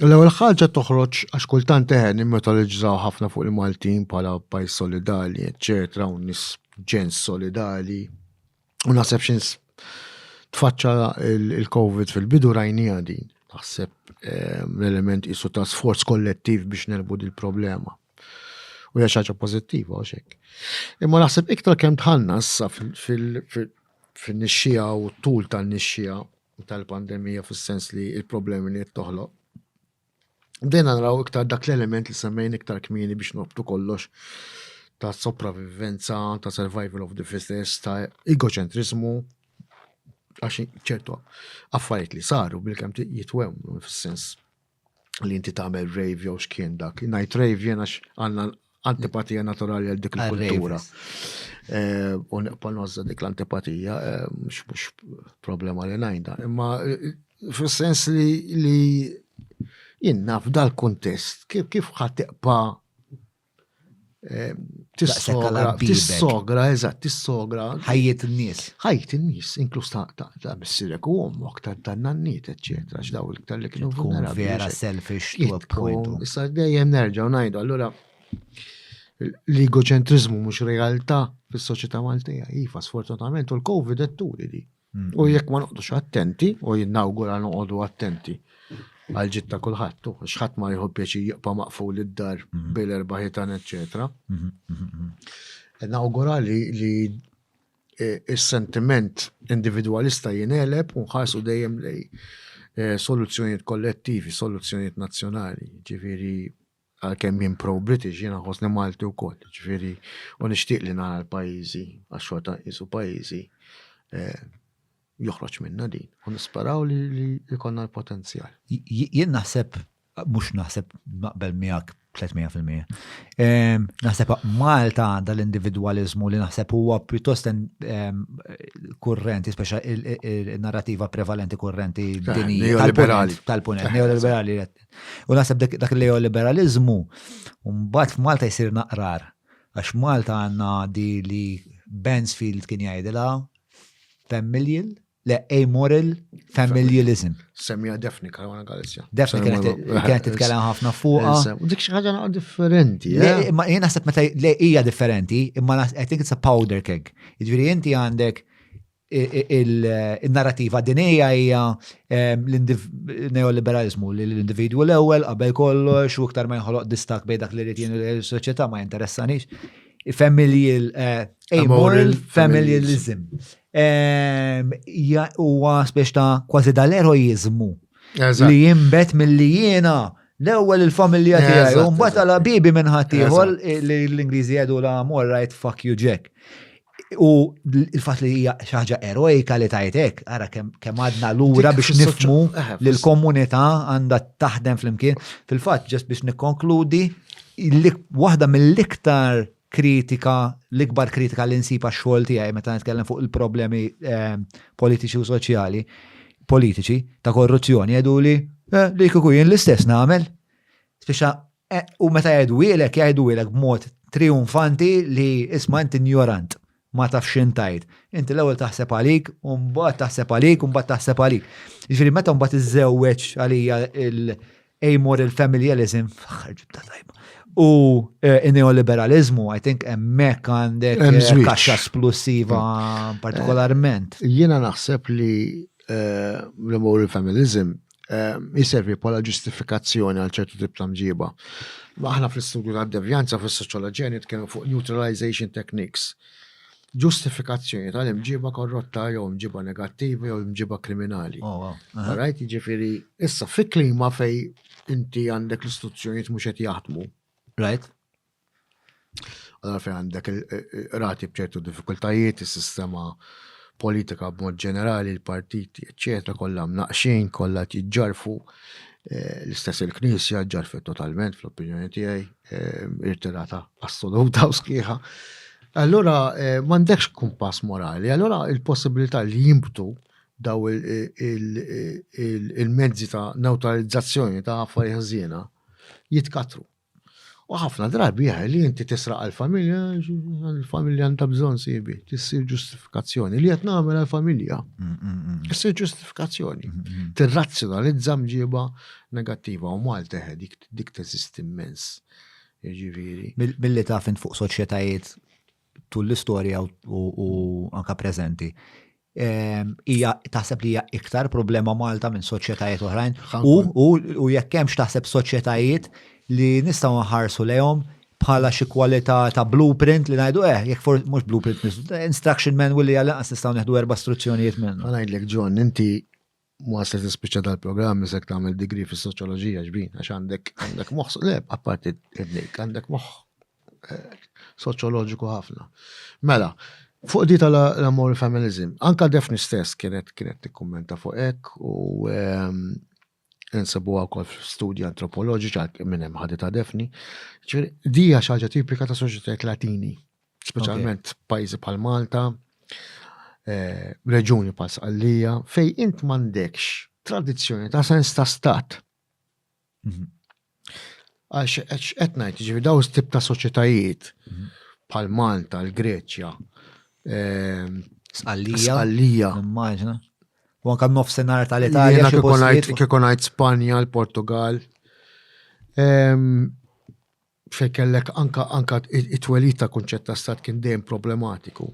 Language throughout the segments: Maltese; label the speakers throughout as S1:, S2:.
S1: L-ewwel ħaġa toħroġ għax kultant teħen nimmetaliġżaw ħafna fuq il-Maltin bħala pajjiż solidali, eċċetera, u nis ġens solidali. U naħseb xins tfaċċa il-COVID fil-bidu rajni din. Naħseb eh, l-element isu ta' sforz kollettiv biex nelbu il problema U hija ħaġa pożittiva u xek. Imma naħseb iktar kemm tħanna issa fil-nixxija u t-tul tan-nixxija u tal-pandemija fis-sens li l-problemi li qed toħloq. Bdejna naraw iktar dak l-element li semmejn iktar kmieni biex noqbtu kollox ta' sopravivenza, ta' survival of the fittest, ta' egocentrismu, għax ċertu affarijiet li saru bil-kem jitwem fis-sens li inti tagħmel rave jew x'kien dak. Ngħid rave jien għax għandna antipatija naturali għal dik il-kultura. Eh, u neqpa' nozza dik l-antipatija, eh, mhux problema li ngħidha. Imma eh, fis-sens li jien naf dal-kuntest kif ħadd teqpa' Tissogra, eżatt, tissogra. Ħajjet
S2: n-nies. Ħajjet n-nies,
S1: inkluż ta' missirek u ommok, ta' tannanniet, eccetera, x'daw il-ktar li kienu vera. Vera selfish
S2: to a point. Issa dejjem nerġgħu
S1: ngħidu, allura l-egocentrizmu mhux realtà fis-soċjetà Maltija. Iva, sfortunatament, u l-COVID etturi li. U jekk ma noqdux attenti, u jinnawgura noqogħdu attenti għal ġid ta' kulħadd, u xħadd ma jħu pjaċi jibqa' maqful id-dar mhm. bil erba ħitan, eċċetera. Mhm, mhm, e nawgura li e, is-sentiment individwalista jineleb u nħarsu dejjem lej e, soluzzjonijiet kollettivi, soluzzjonijiet nazzjonali, ġifieri Għalkemm jien pro-British, jiena nħossni Malti wkoll, jiġifieri u nixtieq li nara l-pajjiżi għax xorta nqisu pajjiżi eh, joħroġ minna din u nisperaw li jkollna l-potenzjal. Jien naħseb
S2: mhux naħseb naqbel miegħek 300%. Ehm, naħseb Malta għandha l-individwalizmu li naħseb huwa pjuttost ehm, kurrenti, speċa il-narrativa prevalenti kurrenti dinija tal-punent, neoliberali U naħseb dak il-neoliberalizmu, mbagħad f'Malta jsir naqrar. Għax Malta għandna di li Bansfield kien jgħidilha familial, le amoral familialism. Semmija Defni
S1: Karwana Galizja. Defni
S2: kienet titkellem ħafna fuqha. Dik xi ħaġa naqa'
S1: differenti. Eh? Ma jien naħseb
S2: meta hija differenti, imma I think it's a powder keg. Jiġifieri inti għandek in-narrativa dinija hija l-neoliberalizmu li l-individwu l-ewwel qabel kollox u iktar ma jinħoloq distak bejn dak li rrid jien is-soċjetà ma jinteressanix. Familji amoral familjalizm. Huwa speċi ta' kważi dal-eroiżmu Li jimbet mill-li jiena l-ewwel il-familja tiegħi u mbagħad għal bibi minn ħaddieħor li l-Ingliżi jgħidu la mor right fuck you Jack. U il-fatt li hija xi ħaġa erojka li tajtek, ara kemm għadna lura biex nifmu eh, li l-komunità għandha taħdem flimkien. Fil-fatt ġest biex nikkonkludi waħda mill-iktar kritika, l-ikbar kritika li nsib għax-xogħol tiegħi meta nitkellem fuq il-problemi eh, politiċi u soċjali, politiċi ta' korruzzjoni jgħidu li eh, li kieku jien l-istess nagħmel. Spiċċa eh, u meta jgħidu ilek jgħidu ilek b'mod triumfanti li isma' inti ignorant. ma tafx x'int tgħid. Inti l-ewwel taħseb għalik u mbagħad taħseb għalik u mbagħad taħseb għalik. Jiġifieri meta mbagħad iżżewweġ għalija l-amoral familialism ġibta tajba. U eh, in-neoliberalizmu, I think hemmhekk għandek eh, kaxxa splussiva eh, partikolarment. Jiena naħseb
S1: li l-amoral familism ehm, jiservi bħala ġustifikazzjoni għal ċertu tip ta' mġiba. Aħna fl-istudju ta' devjanza fis-soċjoloġija nitkellmu fuq neutralization techniques. Ġustifikazzjoni tal-imġiba korrotta jew imġiba negattiva jew imġiba kriminali. Oh, Rajt, ġifiri, issa fi klima fej inti għandek l-istituzzjonijiet mhux qed jaħdmu. Right. Allora fejn għandek rati bċertu diffikultajiet, is-sistema politika b'mod ġenerali, l-partiti, eccetera, kollha mnaqxin, kollha tiġġarfu, eh, l-istess il-Knisja ġarfet totalment fl-opinjoni tiegħi, eh, irtirata assoluta u sħiħa. Allora eh, m'għandekx kumpass morali, allora il-possibilità li jimbtu daw il-mezzi ta' neutralizzazzjoni ta' affarijiet ħżiena jitkatru. U ħafna drabi għaj li inti tisraq għal-familja, għal-familja għandha bżon sibi, tissir ġustifikazzjoni li qed nagħmel għal-familja. Mm, mm, mm. Tissir ġustifikazzjoni. Tirrazzjonalizza mġiba negattiva u Malta dik dik teżisti immens. Ġifieri. Billi taf int
S2: fuq soċjetajiet tul l-istorja u anka preżenti. Hija taħseb li hija iktar problema Malta minn soċjetajiet oħrajn u jekk hemmx taħseb soċjetajiet li nistgħu nħarsu lejhom bħala xi kwalità ta' blueprint li ngħidu eh, jekk for mhux blueprint, instruction manual li għal-lanqas nistgħu neħdu erba' struzzjonijiet minn. Ngħidlek John, inti
S1: Ma se tispiċċa dal-programm isek tagħmel degree fis-soċjoloġija xbin għax għandek għandek moħħ le apparti id-nejk għandek moħħ eh, soċjoloġiku ħafna. Mela, fuq di tal-amor feminism, anka defni stess kienet kienet tikkummenta fuq hekk u ehm, insabu għakol studji antropoloġiċi għal minn hemm ħadita defni. Ġifieri, di hija xi ħaġa tipika ta' soċjetajiet Latini Speċjalment pajjiżi bħal Malta, eh, reġuni bħal Sqallija, fej int m'għandekx tradizzjoni ta' sens ta' stat. Mhm. Għax qed ngħid, ġifi daw tip ta' soċjetajiet mhm. bħal Malta, l-Greċja, eh, Sqallija.
S2: Sqallija. Immaġna. U anka nofsenar tal-Italja. Kiekonajt Spanja,
S1: l-Portugal. fejn kellek anka anka it-twelid ta' kunċett ta' stat kien dejjem problematiku.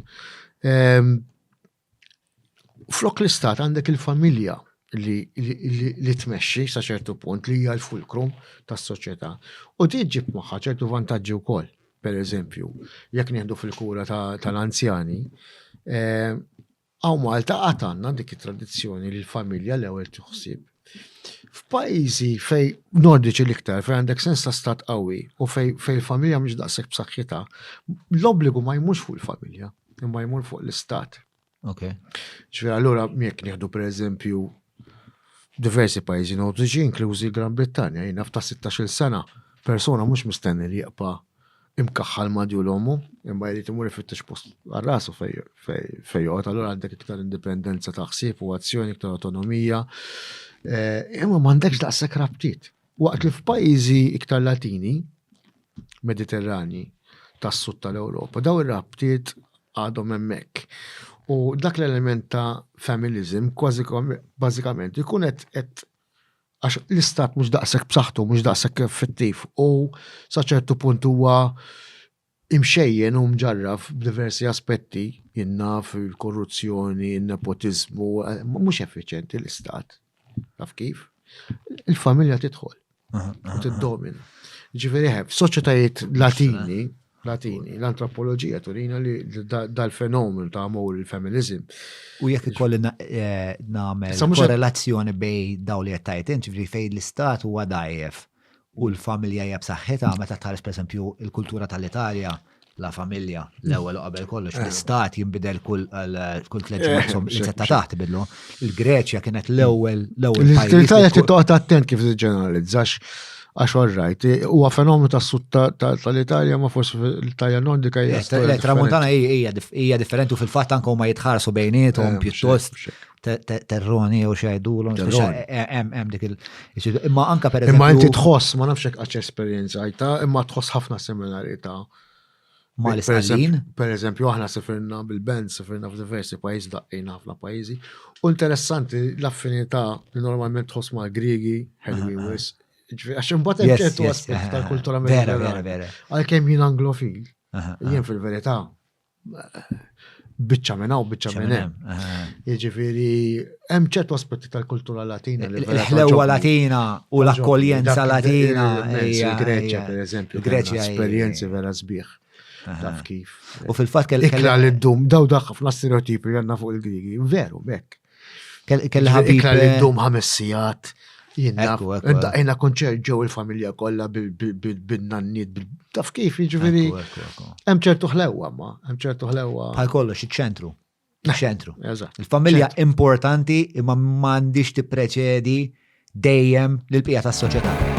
S1: Ehm, flok l-istat għandek il-familja li, li, tmexxi sa ċertu punt li hija l-fulkrum tas-soċjetà. U din ġib magħha ċertu vantaġġi wkoll. Per eżempju, jekk nieħdu fil-kura tal-anzjani, ehm, Hawn Malta għad għandna dik it-tradizzjoni li l-familja l-ewwel tiħsib. F'pajjiżi fej nordiċi l-iktar fej għandek sens ta' stat qawwi u fej fej familja mhux daqshekk b'saħħitha, l-obbligu ma jmux fuq il-familja, imma jmur fuq l-istat. Ok. Ġifier allura jekk nieħdu pereżempju Diversi pajjiżi Nordiċi, inklużi l-Gran Brittanja, jien naf ta' sittax-il sena, persuna mhux mistenni li jibqa' imkaħħal ma' djul ommu, imma jrid imur ifittex post għal rasu fejn joqgħod, allura għandek iktar indipendenza ta' ħsieb u azzjoni, iktar awtonomija, imma m'għandekx daqshekk rabtiet. Waqt li f'pajjiżi iktar Latini, Mediterranji, tas-Sud tal-Ewropa, dawn ir-rabtiet għadhom hemmhekk. U dak l-element ta' familiżim kważi bażikament ikun qed qed għax l-istat mhux daqshekk b'saħħtu, mhux daqshekk effettiv u sa ċertu punt huwa Imxejjen u mġarraf b'diversi aspetti, jien naf, il-korruzzjoni, in-nepotiżmu, mhux effiċjenti l-istat. Taf kif? Il-familja tidħol u tiddomina. Ġifieri ħef, eh, soċjetajiet Latini, Latini, l-antropoloġija turina li dal-fenomenu ta' amor il-feminizim. U jekk ikolli
S2: eh, nagħmel korrelazzjoni bej daw li qed tajt ġifieri fejn l-istat huwa dajjef. u l-familja hija b'saħħitha meta tħares pereżempju l-kultura tal-Italja la familja l-ewwel u qabel kollox l-istat jinbidel kull kull tliet ġimgħat li se ta' taħt bidlu. Il-Greċja kienet l-ewwel l-ewwel pajjiż. L-Italja titqgħod attent
S1: kif tiġġeneralizzax għax all right, huwa fenomenu tas sud tal-Italja ma forsi l-Italja nordika hija. Tramuntana
S2: hija differenti u fil-fatt anke huma jitħarsu bejniethom pjuttost terroni jew xejdulhom. Hemm dik il- Imma anka per Imma inti tħoss, ma nafx
S1: hekk għax esperjenza għajta, imma tħoss ħafna seminari ta' ma
S2: l-istallin. Per eżempju, aħna
S1: sifirna bil-band, sifirna f'diversi pajjiżi daqqin ħafna pajjiżi. U interessanti l-affinità li normalment tħoss ma' Griegi, ħelwi wis. Għax imbagħad hemm ċertu aspett tal-kultura Mediterrana. Għalkemm jien anglofil, jien fil-verità biċċa minn hawn, biċċa minn hemm. Jiġifieri hemm ċertu aspetti tal-kultura Latina li l-ħlewwa Latina
S2: u l-akkoljenza Latina. Il-Greċja,
S1: per eżempju, Greċja esperjenzi vera sbieħ. Taf kif. U fil-fatt kelli.
S2: Ikla li ddum,
S1: daw dak ħafna stereotipi għandna fuq il-Grigi. Veru, bekk. Kelli ħabib. Ikla li ndum ħames sigħat. Jina, konċert ġew il-familja kollha bil-nanniet, taf kif, jiġifieri. Hemm ċertu ħlewwa ma, hemm ċertu ħlewwa. Bħal kollox iċ-ċentru.
S2: Iċ-ċentru. Il-familja importanti imma m'għandix tippreċedi dejjem lil pija tas-soċjetà.